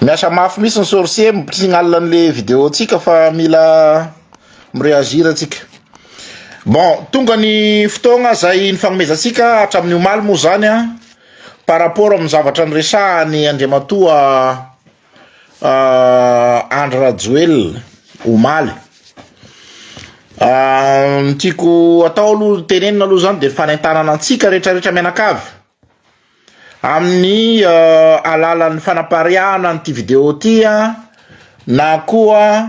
Miasa mafy mihintsy ny sorcier misignal an'le vidéo tsika fa mila mireagir atsika. Bon, tonga ny fotoagna zay nifagnomezantsika hatramin'ny omaly moa zany a par rapport amin'ny zavatra niresahany Andriamatoa Andry Rajoelina omaly. Ny tiako atao aloha tenenina aloha zany de fanentanana antsika rehetra rehetra mianakavy. Amin'ny alalan'ny fanapariahana an'ity video ity na koa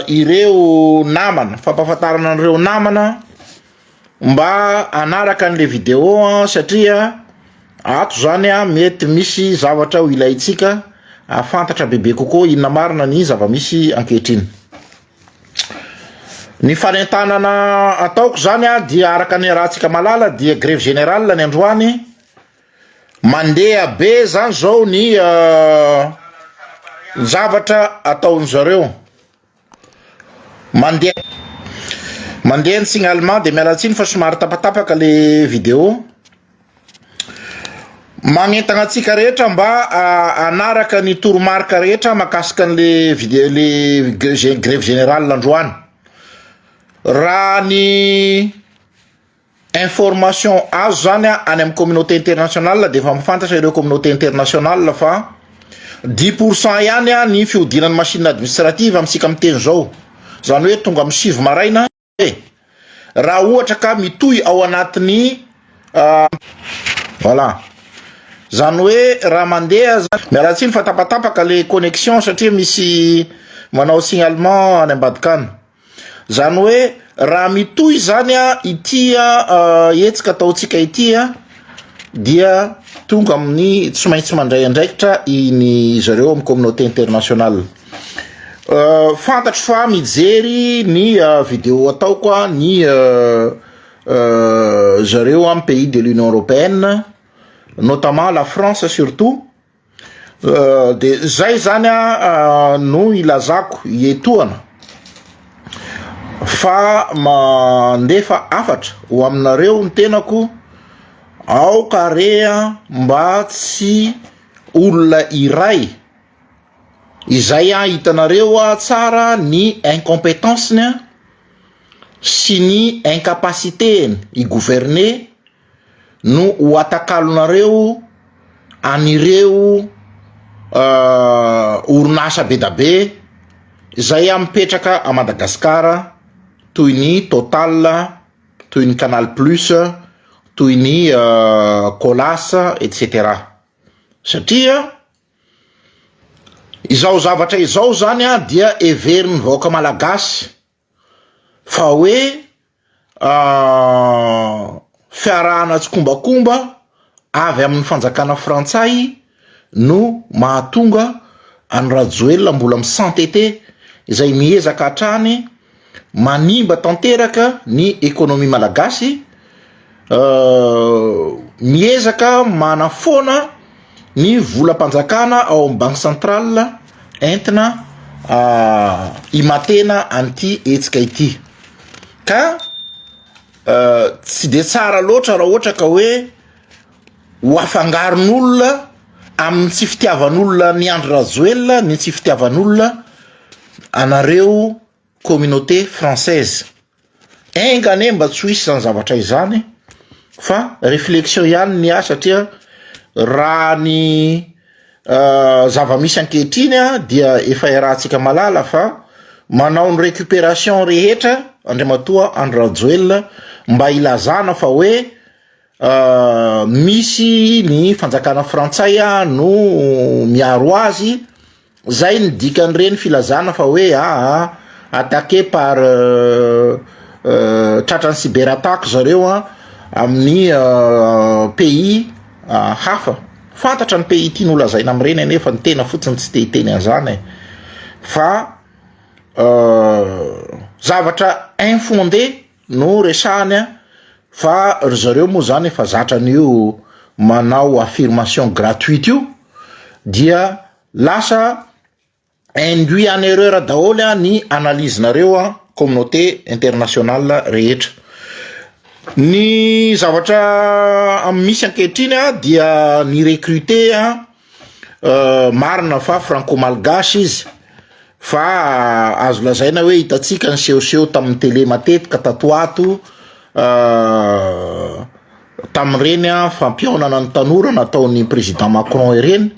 ireo namana, fampahafantarana an'ireo namana mba hanaraka an'le video satria ato zany mety misy zavatra ho ilaintsika hahafantatra bebe kokoa inona marina ny zava-misy ankehitriny. Ny fanentanana ataoko izany an dia araka ny arahantsika malala dia grevy generale ny androany, mandeha be izany izao ny zavatra ataon zareo, mandeha mandeha ny signalement dia miala tsiny fa somary tapatapaka le video. Manentana antsika rehetra mba hanaraka ny toromarika rehetra makasika an'le vide- le ge- ze- grevy general androany. Raha ny information azo zany a any amin'ny communauté internationale de efa mafantatra ireo communauté internationale fa dix pour cent ihany a ny fihodinan'ny machine administrative amintsika miteny zao, zany hoe tonga amin'ny sivy maraina. e! raha ohatra ka mitohy ao anatin'ny voilà zany hoe raha mandeha zany miala tsiny fa tapatapaka le connexion satria misy manao signalement any ambadika any zany hoe raha mitohy zany a ity a hetsika ataontsika ity a dia tonga amin'ny tsy maintsy mandray andraikitra iny zareo amin'ny communauté internationale Fantatro fa mijery ny video ataoko ny zareo amin'ny pays de l'Union européenne notamment la France surtout de zay zany a no ilazako etoana fa mandefa hafatra ho aminareo ny tenako aoka re mba tsy olona iray Izay an, hitanareo an tsara ny incompetence-ny an sy ny incapacité-ny hi-gouverner no ho atakalonareo an'ireo orinasa bedabe izay an mipetraka à Madagascar toy ny Total, toy ny Canal plus, toy ny Colas etc satria. Izao zavatra izao izany dia heverin'ny vahoaka malagasy fa hoe fiarahana tsikombakomba avy amin'ny fanjakana frantsay no mahatonga an'i Rajoelina mbola mi-s'entêter izay miezaka hatrany Manimba tanteraka ny ekonomia malagasy, miezaka manafoana ny volam-panjakana ao amin'ny banque centrale entina himatena an'ity hetsika ity ka tsy de tsara loatra raha ohatra ka hoe. ho afangaron'olona amin'ny tsy fitiavan'olona an'i Andry Rajoelina ny tsy fitiavan'olona anareo communauté française. Enga anie mba tsy ho hisy izany zavatra izany fa réflexion ihany ny ahy satria raha ny euh, zava-misy ankehitriny dia efa iarahantsika malala fa manao ny récupération rehetra Andriamatoa Andry Rajoelina mba ilazana fa hoe misy ny fanjakana frantsay no miaro azy, zay ny dikan'ireny filazana fa hoe aa attaqué par tratran'ny cyber attaque zareo an amin'ny pays hafa, fantatra ny pays tiany ho lazaina amin'ireny anefa ny tena fotsiny tsy te hiteny an'izany e, fa zavatra infondé. No resahany fa ry zareo moa zany efa zatra an'io manao affirmation gratuite io dia lasa induit en erreur daholo ny analyse nareo communauté internationale rehetra. Ny zavatra misy ankehitriny dia ny recruter Marina fa franco-malgache izy fa azo lazaina hoe hitantsika ny sehoseho tamin'ny tele matetika tato ho ato tamin'ireny fampihaonana ny tanora nataon'ny président Macron ireny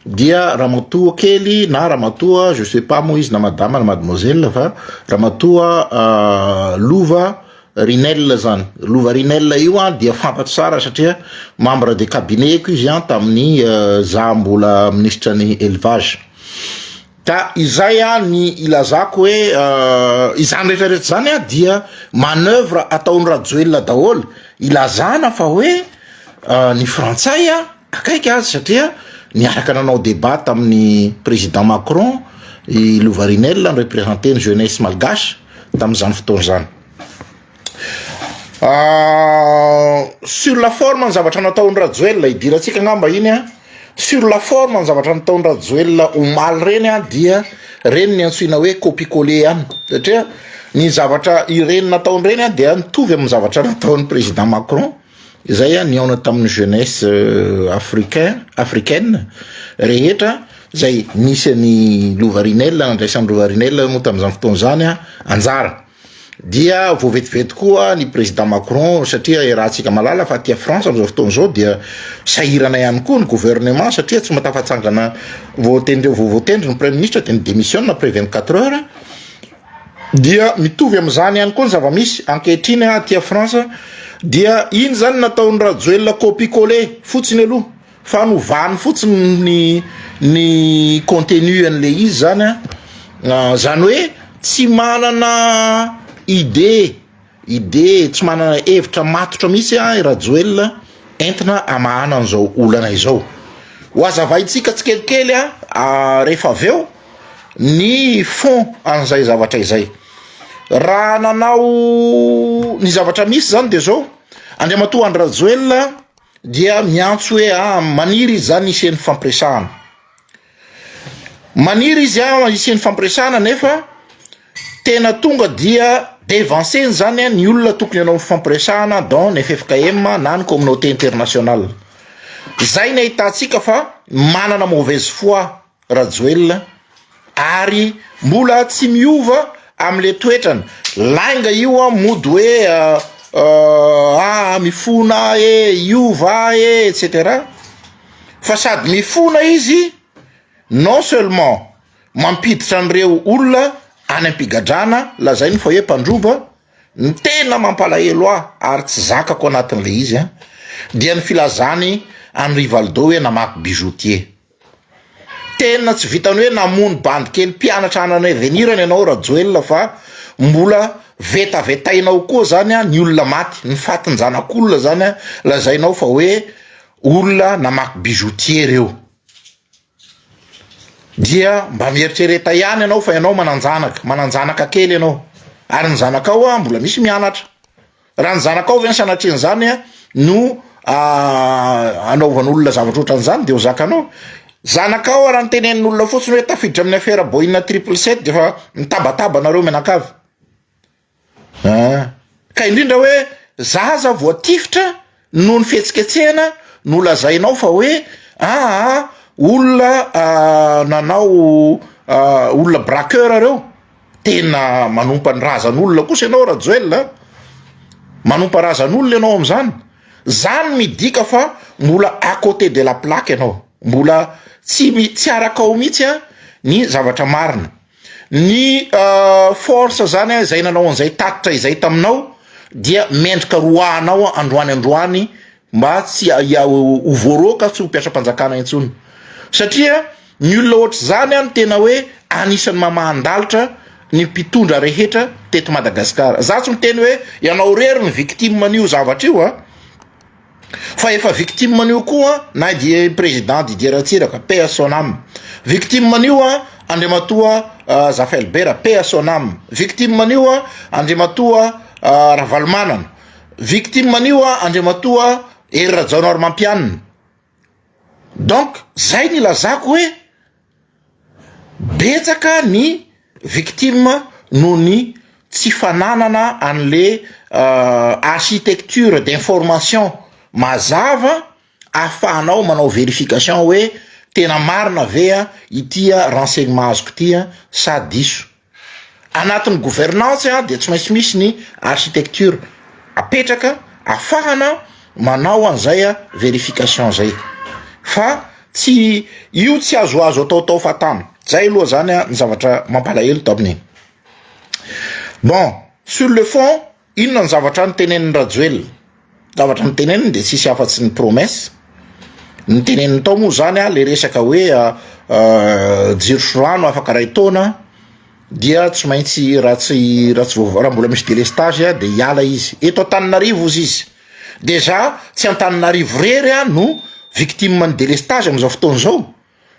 dia ramatoa kely na ramatoa je sais pas moa izy na madama na mademoiselle fa ramatoa lova Rinella zany lova Rinella io an dia fantatro tsara satria membre de cabinet ko izy an tamin'ny euh, za mbola ministra ny élevage ka izay a ny ilazako hoe euh, izany rehetra rehetra zany a dia manœuvre ataon'i Rajoelina daholo ilazana fa hoe euh, ny frantsay a akaiky azy satria niaraka nanao débat tamin'ny président Macron i Lovarinel ny représenté ny jeunesse malgache tamin'izany fotoana izany ah, sur la forme ny zavatra nataon'i Rajoelina idirantsika angamba iny a sur la forme ny zavatra nataon'i Rajoelina omaly ireny a dia ireny ny antsoina hoe copie coller ihany satria ny zavatra ireny nataony ireny a dia mitovy amin'ny zavatra nataon'ny président Macron Izay a nihaona tamin'ny jeunesse euh, africain africaine rehetra izay nisy an'i Lovarinel nandraisan'i Lovarinel moa tamin'izany fotoana izany a anjara dia voavetivety koa ny président Macron satria iarahantsika malala fa aty France amin'izao fotoana izao dia sahirana ihany koa ny gouvernement satria tsy matafatsangana voatendry voavoatendry ny prime ministre dia ny démissionne après 24 heures Dia mitovy amin'izany ihany koa ny zava-misy ankehitriny aty France dia iny izany nataon'i Rajoelina copie coller fotsiny aloha fa novany fotsiny ny ny contenu an'ilay izy izany an, izany hoe tsy manana idée. Idée tsy manana hevitra matotra mihitsy an i Rajoelina entina hamahana an'izao olana izao. Ho azavaintsika tsikelikely an rehefa avy eo ny fond an'izay zavatra izay. Raha nanao ny zavatra misy izany dia izao, Andriamatoa Andry Rajoelina dia miantso hoe an, maniry izy izany hisian'ny fampiresahana. Maniry izy an hisiany fampiresahana nefa tena tonga dia devanceny zany an ny olona tokony hanao fampiresahana dans ny ffkm na ny communauté internationale. Zay ny ahitantsika fa manana mauvaise foi Rajoelina ary mbola tsy miova amle toetrany lainga io an mody hoe aa mifona aho ee hiova aho ee etc. fa sady mifona izy non seulement mampiditra an'ireo olona any am-pigadrana lazainy fa hoe mpandroba, ny tena mampalahelo ahy ary tsy zakako anatin'ilay izy an, dia ny filazany an'i Rivaldo hoe namaky bijoutier. Tena tsy vitan'ny hoe namono bandy kely mpianatra any an'avenirany ianao Rajoelina fa mbola vetavetainao koa zany an ny olona maty, ny fatin-janak'olona zany an lazainao fa hoe Olona namaky bijoutier reo. Dia mba mieritrereta ihany ianao fa ianao mananjanaka, mananjanaka kely ianao. Ary ny zanakao a mbola misy mianatra. Raha ny zanakao ve ny sanatrian'izany a no anaovan'olona zavatra ohatran'izany dia ho zakanao. Zanakao a raha ny tenenin'olona fotsiny hoe tafiditra amin'ny afera Boeing triple sept dia efa mitabataba anareo mianakavy. An! Ka indrindra hoe za aza voatifitra noho ny fihetsiketsehana no lazainao fa hoe aa olona nanao olona braqueur reo, tena manompa ny razan'olona kosa ianao Rajoel a, manompa razan'olona ianao amin'izany, zany midika fa mbola à cote de la plaque ianao, mbola tsy mi- tsy arakao mihitsy ny zavatra marina. Ny force zany an izay nanao an'izay tatitra izay taminao dia mendrika roahanao androany androany mba tsy ho voaroaka tsy ho mpiasam-panjakana intsony satria ny olona ohatr'izany an tena hoe anisan'ny mamahan-dalitra ny mpitondra rehetra teto Madagasikara, za tsy miteny hoe ianao irery ny victime an'io zavatra io an. Fa efa victime an'io koa na dia i président Didier Ratsiraka, paix à son âme, victime an'io Andriamatoa Zafelbera, paix à son âme, victime an'io Andriamatoa Ravalomanana, victime an'io Andriamatoa Hery Rajaonarimampianina. Donc zay ny ilazako hoe. Betsaka ny victime noho ny tsy fananana anle architecture d'information mazava ahafahanao manao verification hoe tena marina ve ity renseignement azoko ity sa diso. Anatin'ny gouvernance dia tsy maintsy misy ny architecture apetraka afahana manao an'izay verification zay fa tsy io tsy azo azo atao tao fatana zay aloha zany ny zavatra mampalahelo tamin'iny bon sur le fond Inona ny zavatra nitenenin'i Rajoelina? Zavatra niteneniny dia tsisy afa-tsy ny promesse. Niteneniny tao moa zany a le resaka hoe jiro sy rano afaka ray taona dia tsy maintsy raha tsy raha tsy raha mbola misy délestage a de hiala izy. Eto Antananarivo ozy izy. Déjà tsy Antananarivo rery a no victime ny délestage amin'izao fotoana izao.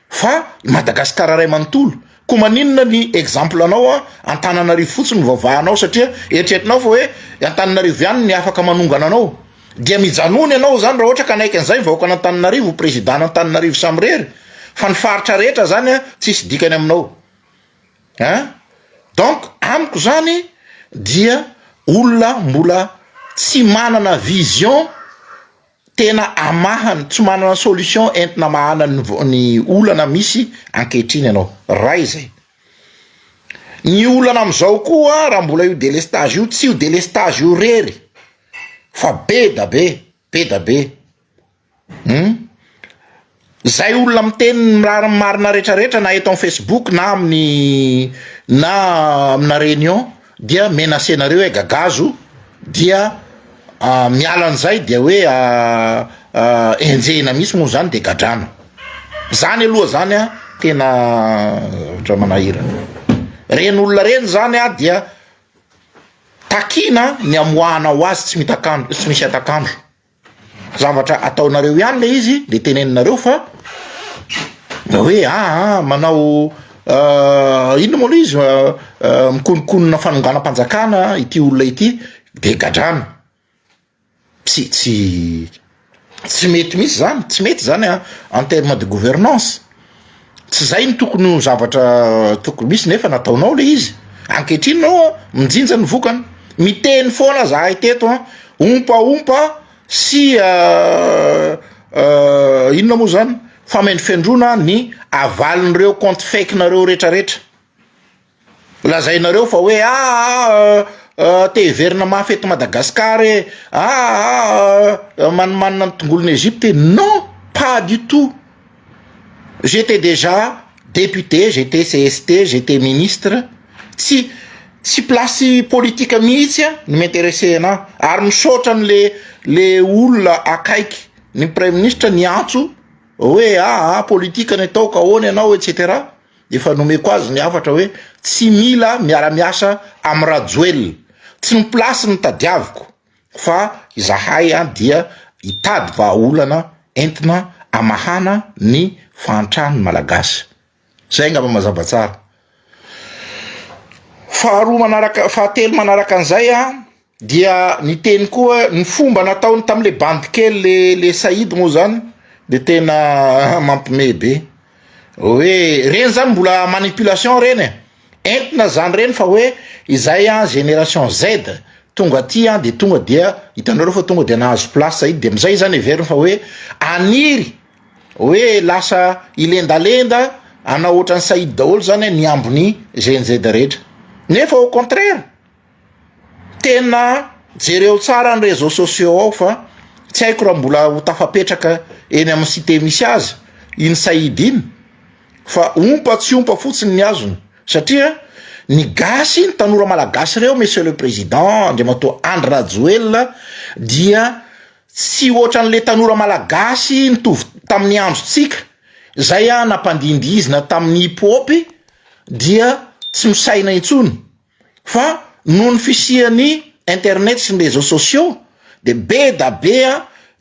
Fa i Madagasikara ray manontolo. Koa maninona ny exemple anao a Antananarivo fotsiny no vavahanao satria eritreretinao fa hoe i Antananarivo ihany ny afaka manongana anao. Dia mijanona ianao izany raha ohatra ka hanaiky an'izay ny vahoakan' Antananarivo ho president-n' Antananarivo samirery fa ny faritra rehetra izany a tsisy dikany aminao a. Donc amiko izany dia olona mbola tsy manana vision. tena amahany tsy manana solution entina mahana ny olana misy ankehitriny ianao ray izay ny olana amin'izao koa raha mbola io delestage io tsy io delestage io rery fa be da be be da be hum Zay olona miteny ny mirary marina rehetra rehetra na eto am Facebook na aminy na amina réunion dia menacer nareo hoe gagazo dia miala an'izay dia hoe enjehina mihitsy moa zany dia gadrana zany aloha zany an tena zavatra manahirana reny olona reny zany an dia takina ny amoahana ho azy tsy mitakandro tsy misy atakandro zavatra ataonareo ihany le izy de teneninareo fa da hoe aa manao inona moa le izy mikonokonona fanonganam-panjakana ity olona ity de gadrana tsy tsy tsy mety mihitsy zany tsy mety zany a en terme de gouvernance. Tsy izay no tokony ho zavatra tokony misy nefa nataonao ilay izy. Ankehitriny ianao minjinja ny vokany. Miteny foana zahay teto an, ompaompa sy inona moa zany, famendrofendroana ny avalin'ireo compte fake-nareo retraretra. Lazainareo fa hoe aa te hiverina mafy eto Madagascar e, aa manimanina ny tongolon'i Egypte e, non pas du tout, j'etais dejà député, j'etais cst, j'etais ministre, tsy tsy place politika mihitsy an no m'interesser anah, ary misaotra ny le le olona akaiky ny praiministra niantso hoe aa politika ny atao ka ahoana ianao etc. Efa nomeko azy ny hafatra hoe tsy mila miara-miasa amin'i Rajoelina. Tsy ny place no tadiaviko fa izahay dia hitady vahaolana entina hamahana ny fahantran'ny Malagasy. Izay angamba mazava tsara. Faharoa manaraka, fahatelo manaraka an'izay. Dia niteny koa ny fomba nataony tamin'ilay bandy kely le le Saïd moa zany de tena mampimehy be. Hoe reny zany mbola manipulation reny e. Entina zany reny fa hoe izay an génération Z tonga aty an de tonga dia hitanao reo fa tonga dia nahazo place Saïd de amizay zany heveriny fa hoe haniry hoe lasa hilendalenda hanao ohatran'i Saïd daholo zany ny ambiny GNZ rehetra. Nefa au contraire. Tena jereo tsara ny réseaux sociaux ao fa tsy haiko raha mbola ho tafapetraka eny amin'ny site misy azy iny Said iny fa ompa tsy ompa fotsiny ny azony satria ny gasy ny tanora malagasy ireo monsieur le président Andriamatoa Andry Rajoelina dia tsy ohatran'le tanora malagasy nitovy tamin'ny androntsika zay ah nampandihindihizina tamin'ny hip hop dia tsy misaina intsony. fa noho ny fisian'ny internet sy ny réseaux sociaux dia be da be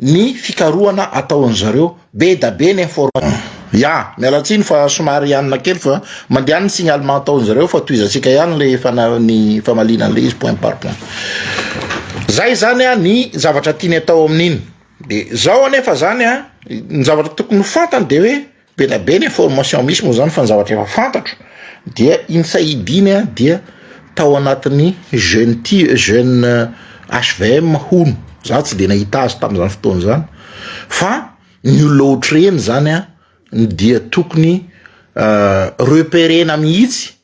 ny fikarohana ataon'ny zareo, be da be ny information. Ya, miala tsiny fa somary hianina kely fa mandeha ny signalement ataon'ny zareo fa tohizantsika ihany ilay fana- ny famaliana an'ilay izy point par point. Zay izany an ny zavatra tiany atao amin'iny. Dia zao anefa izany an, ny zavatra tokony ho fantany dia hoe Beda be ny information misy moa zany fa ny zavatra efa fantatro dia iny sahidiny a dia tao anatin'ny jeune ti jeune HVM euh, hono za tsy de nahita azy tamin'izany fotoana zany fa ny olona ohatr'ireny zany a dia tokony euh, reperena mihitsy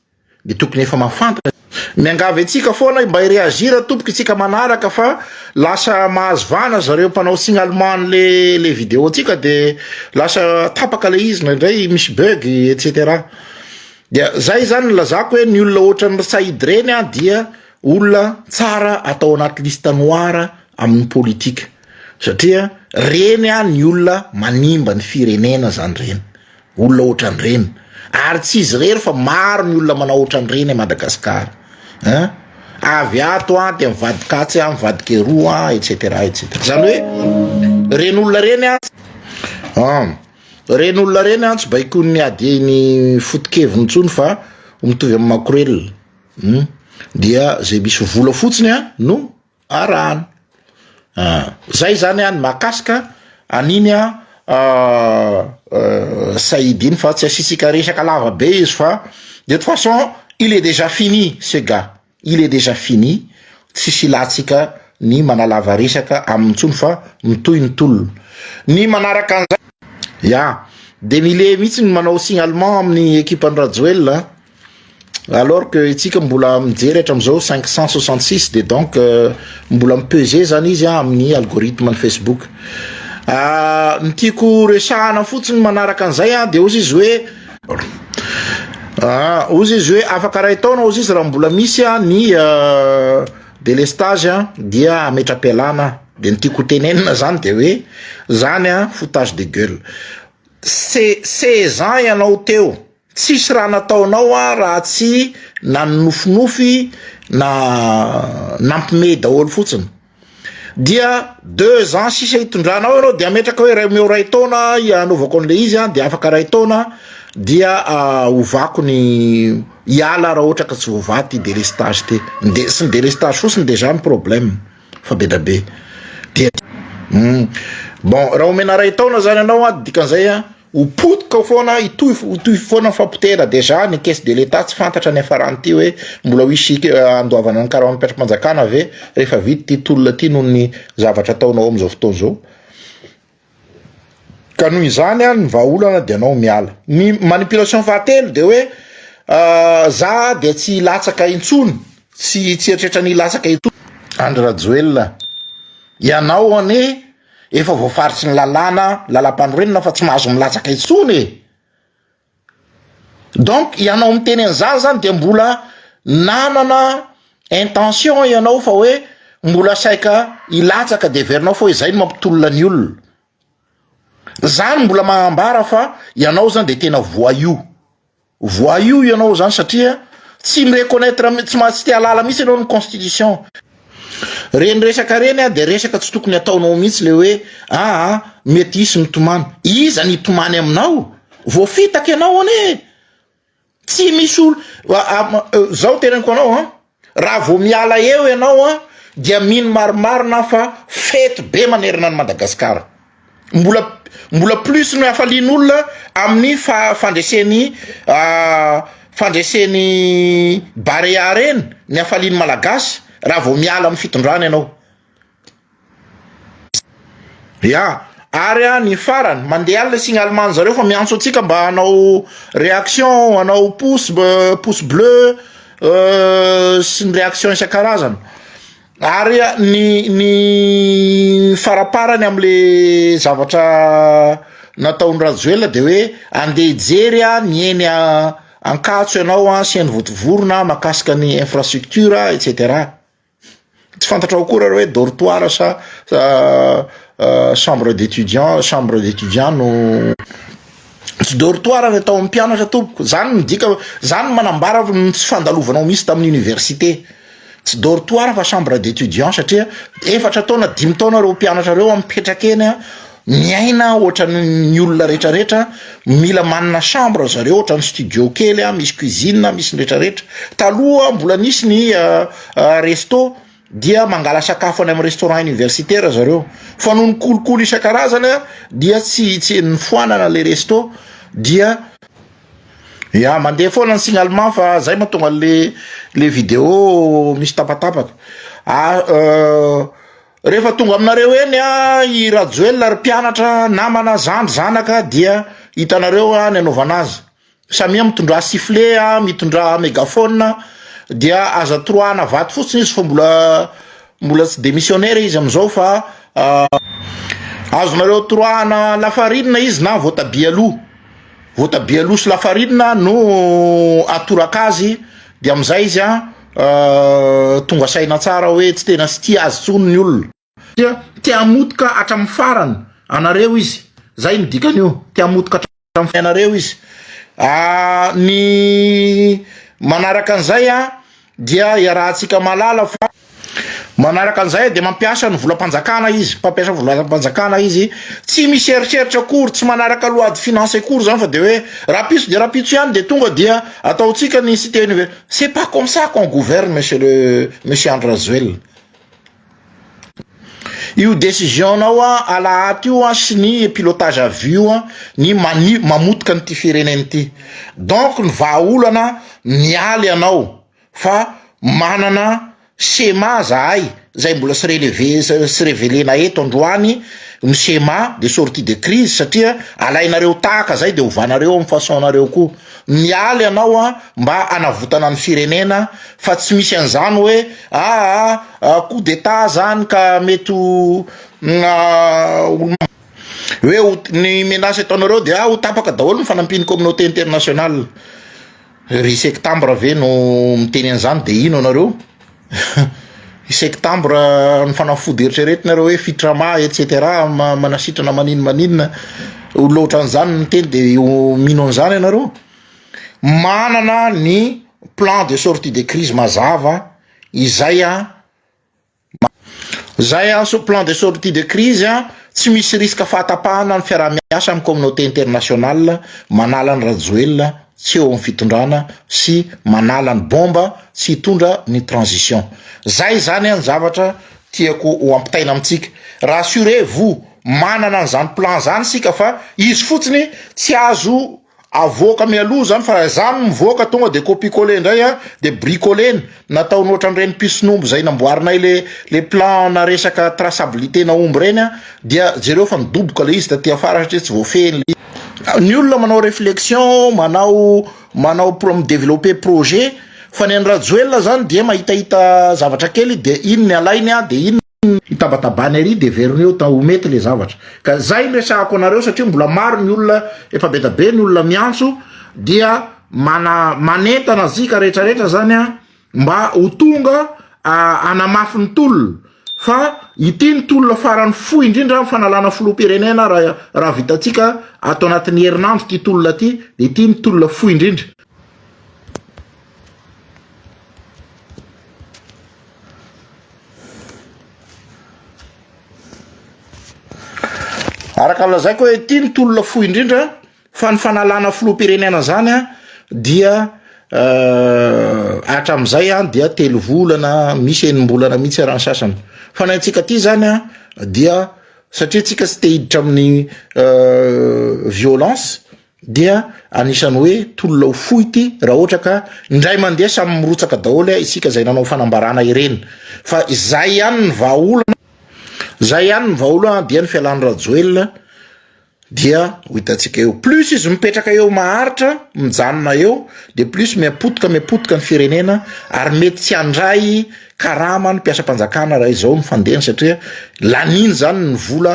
Dia tokony efa mahafantatra. Miangavy antsika foana mba hi-reagir tompoko isika manaraka fa lasa mahazo vahana zareo mpanao signalement le le video ntsika de lasa tapaka le izy indraindray misy bug etc dia zay zany ny lazako hoe ny olona ohatran'ny ry said reny a dia olona tsara atao anaty liste noir amin'ny politika satria reny a ny olona manimba ny firenena zany reny Olona ohatran'ireny ary tsy izy irery fa maro ny olona manao ohatran'ireny à Madagascar hein avy ato an dia mivadika atsy an mivadika eroa an etc etc izany hoe ireny olona ireny an an ireny olona ireny an tsy baikoin'ny adieny foto-keviny intsony fa mitovy amin'ny makorelina dia izay misy vola fotsiny an no arahana. Ah, zay zany any makasika an'iny a ah, ah, Saïd iny fa tsy asitsika resaka lava be izy fa de toute façon il est déjà fini ce gars. Il est déjà fini. Tsisy ilatsika ny manalava resaka aminy tsony fa mitohy ny tolona. Ny manaraka an'izay ya de mile mihitsy ny manao signalement amin'ny ekipan'i Rajoelina. Alors que itsika mbola mijery hatramin'izao 566 dia donc euh, mbola mi-peser zany izy ah, amin'ny algorithme ny Facebook. Ah, ny tiako resahana fotsiny manaraka an'izay ah, dia ozy izy hoe ah, ozy izy hoe afaka ray taona ozy izy raha mbola misy ah, ny euh, délestage ah, dia ametra-pialana dia ny tiako tenenina zany dia hoe zany ah, foutage de gueule se sezan ianao teo Tsisy raha nataonao aho raha tsy nanonofinofy na nampimehy daholo fotsiny. Dia deux ans sisa hitondranao ianao dia ametraka hoe omeo iray taona hanaovako an'ilay izy dia afaka iray taona dia hovako ny hiala raha ohatra ka tsy voavaha ty délestage ty. Ny de- tsy ny délestage fotsiny déjà ny problème fa be dia be. Dia bon raha omena iray taona zany ianao a dikan'izay a. Ho potika foana, hitohy hitohy foana ny fampotehana déjà ny caisse de l'Etat tsy fantatra ny hiafarany ity hoe mbola ho hisy handoavana ny karaman'ny mpiatrompanjakana ve rehefa vita ity tolona ity noho ny zavatra ataonao amin'izao fotoana izao. Ka noho izany ny vahaolana dia anao miala. Ny manipulation fahatelo dia hoe za dia tsy hilatsaka intsony, tsy tsy eritreretra ny hilatsaka intsony. Andry Rajoelina, ianao anie. Efa voafaritry ny lalàna, lalam-panorenana fa tsy mahazo milatsaka intsony e! Donc ianao miteny an'izany zany dia mbola nanana intention ianao fa hoe mbola saika hilatsaka dia heverinao fa hoe izay no mampitolona ny olona. Zany mbola mahambara fa ianao zany dia tena voyou. Voyou ianao zany satria tsy mi reconnaitre tsy maha tsy te halala mihitsy ianao ny constitution. Reny resaka reny a dia resaka tsy tokony ataonao mihitsy le hoe aa mety hisy mitomany. Iza ny hitomany aminao? Voafitaka ianao anie e! Tsy misy olo zao teneniko anao an! Raha vao miala eo ianao an dia mino marimarina aho fa fety be manerana an'i Madagasikara. Mbola mbola plus ny hafalian'olona amin'ny fandresen'ny fandresen'ny Barea reny ny hafalian'ny Malagasy raha vao miala amin'ny fitondrana ianao. Ya, ary an ny farany mandeha any le signalement zareo fa miantso antsika mba hanao réaction hanao pouce pouce bleu sy ny réaction isan-karazany ary ny ny faraparany am'le zavatra nataon'i Rajoelina de hoe andeha hijery an ny eny Ankatso ianao an sy eny Vontovorona mahakasika ny infrastructure et cetera. Tsy fantatrao akory ary hoe dortoir sa chambre d'étudiant chambre d'étudiant no tsy dortoir ny atao amin'ny mpianatra tompoko zany midika zany no manambara ny tsy fandalovanao misy tamin'ny université tsy dortoir fa chambre d'étudiant satria efatra taona dimy taona ireo mpianatra ireo mipetraka eny a Miaina ohatran ny olona rehetra rehetra mila manana chambre zareo ohatran ny studio kely a misy cuisine a misy ny rehetra rehetra taloha mbola nisy ny resto dia mangala sakafo any am restaurant universitaire zareo fa noho ny kolikoly isan-karazany a dia tsy tsy nifoanana le resto dia ya mandeha foana ny signalement fa zay mahatonga le le video misy tapatapaka a Rehefa tonga aminareo eny i Rajoelina ry mpianatra, namana, zandry, zanaka dia hitanareo ny anaovana azy. Samia mitondrà sifle, mitondrà megaphone dia aza toroahana vato fotsiny izy fa mbola mbola tsy demissionnaire izy amin'izao fa azonareo toroahana lafarinina izy na voatabia aloha. Voatabia aloha sy lafarinina no atoraka azy dia amin'izay izy an. tonga saina tsara hoe tsy tena stia azy tsony ny olona dia te hamotika hatramin'ny farany anareo izy zay ny dikan'io te hamotika hatramin'ny fiainareo izy ny manaraka an'izay a dia iarahantsika malala fa manaraka an'izay dia mampiasa ny volam-panjakana izy mpampiasa volam-panjakana izy tsy misy eritreritra akory tsy manaraka loady finance akory zany fa dia hoe rahampitso dia rahampitso ihany dia tonga dia ataontsika ny site université C'est pas comme ça qu'on gouverne monsieur le monsieur Andry Rajoelina. Io décision nao a alahady io a sy ny pilotage à vue io a ny mani- mamotika an'ity firenena ity. Donc ny vahaolana mialy anao fa manana Shema zahay zay mbola tsy relever tsy revelena eto androany ny shema de sortie de crise satria alainareo tahaka zay de ovanareo am façon nareo koa miala ianao a mba anavotana ny firenena fa tsy misy an'zany hoe aa coup d'etat zany ka mety ho hoe ny menace ataonareo de ho tapaka daholo ny fanampian'ny communauté internationale. Ry sektambra ve no miteny an'izany dia ino anareo? i sektambra ny fanafody eritreretina reo hoe fitrama et cetera manasitrana manino maninona ho loatra an'izany ny miteny de ho mino an'izany ianareo manana ny plan de sortie de crise mazava izay a Zay an sous plan de sortie de crise an, tsy misy risque fahatapahana ny fiarahamiasa amin'ny communauté internationale manala an'i Rajoelina tsy eo amin'ny fitondrana sy manala ny bomba tsy hitondra ny transition. Zay zany an ny zavatra tiako ho ampitaina amintsika. Rassurez vous, manana an'izany plan zany isika fa izy fotsiny tsy azo Avoaka mialoha izany fa raha izaho no mivoaka tonga dia copicoler indray an, dia bricoler-na, nataony ohatran'ireny mpison'omby izay namboarinay le le plan-na resaka traçabilité-na omby ireny an, dia jereo fa midoboka ilay izy taty afara satria tsy voafehin'ilay izy. Ny olona manao réflexion, manao manao pro- mi-developper projet, fa ny an'i Rajoelina izany dia mahitahita zavatra kely dia iny ny alainy an, dia iny ny. hitabatabana ery de verina eo ta ho mety le zavatra ka zay no resahako anareo satria mbola maro ny olona efa be da be ny olona miantso dia mana manentana zika rehetra rehetra zany a mba ho tonga anamafy ny tolona fa ity ny tolona farany fohy indrindra ny fanalana filoham-pirenena raha raha vitantsika ato anatin'ny herinandro ity tolona ity de ity ny tolona fohy indrindra Araka ny lazaiko hoe ity ny tolona fohy indrindra fa ny fanalana filoham-pirenena zany an dia euh, hatramin'izay an dia telo volana misy enim-bolana mihitsy raha ny sasany fa ny antsika ty zany an dia satria tsika tsy te hiditra amin'ny euh, violence dia anisany hoe tolona ho fohy ity raha ohatra ka indray mandeha samy mirotsaka daholo a isika izay nanao fanambarana ireny fa izay ihany ny vahaolana izay ihany ny vahaolana dia ny fialan'ny rajoelina dia ho hitantsika eo plus izy mipetraka eo maharitra mijanona eo dia plus miapotika miapotika ny firenena ary mety tsy handray karama ny mpiasam-panjakana raha izao ny fandehany satria laniny izany ny vola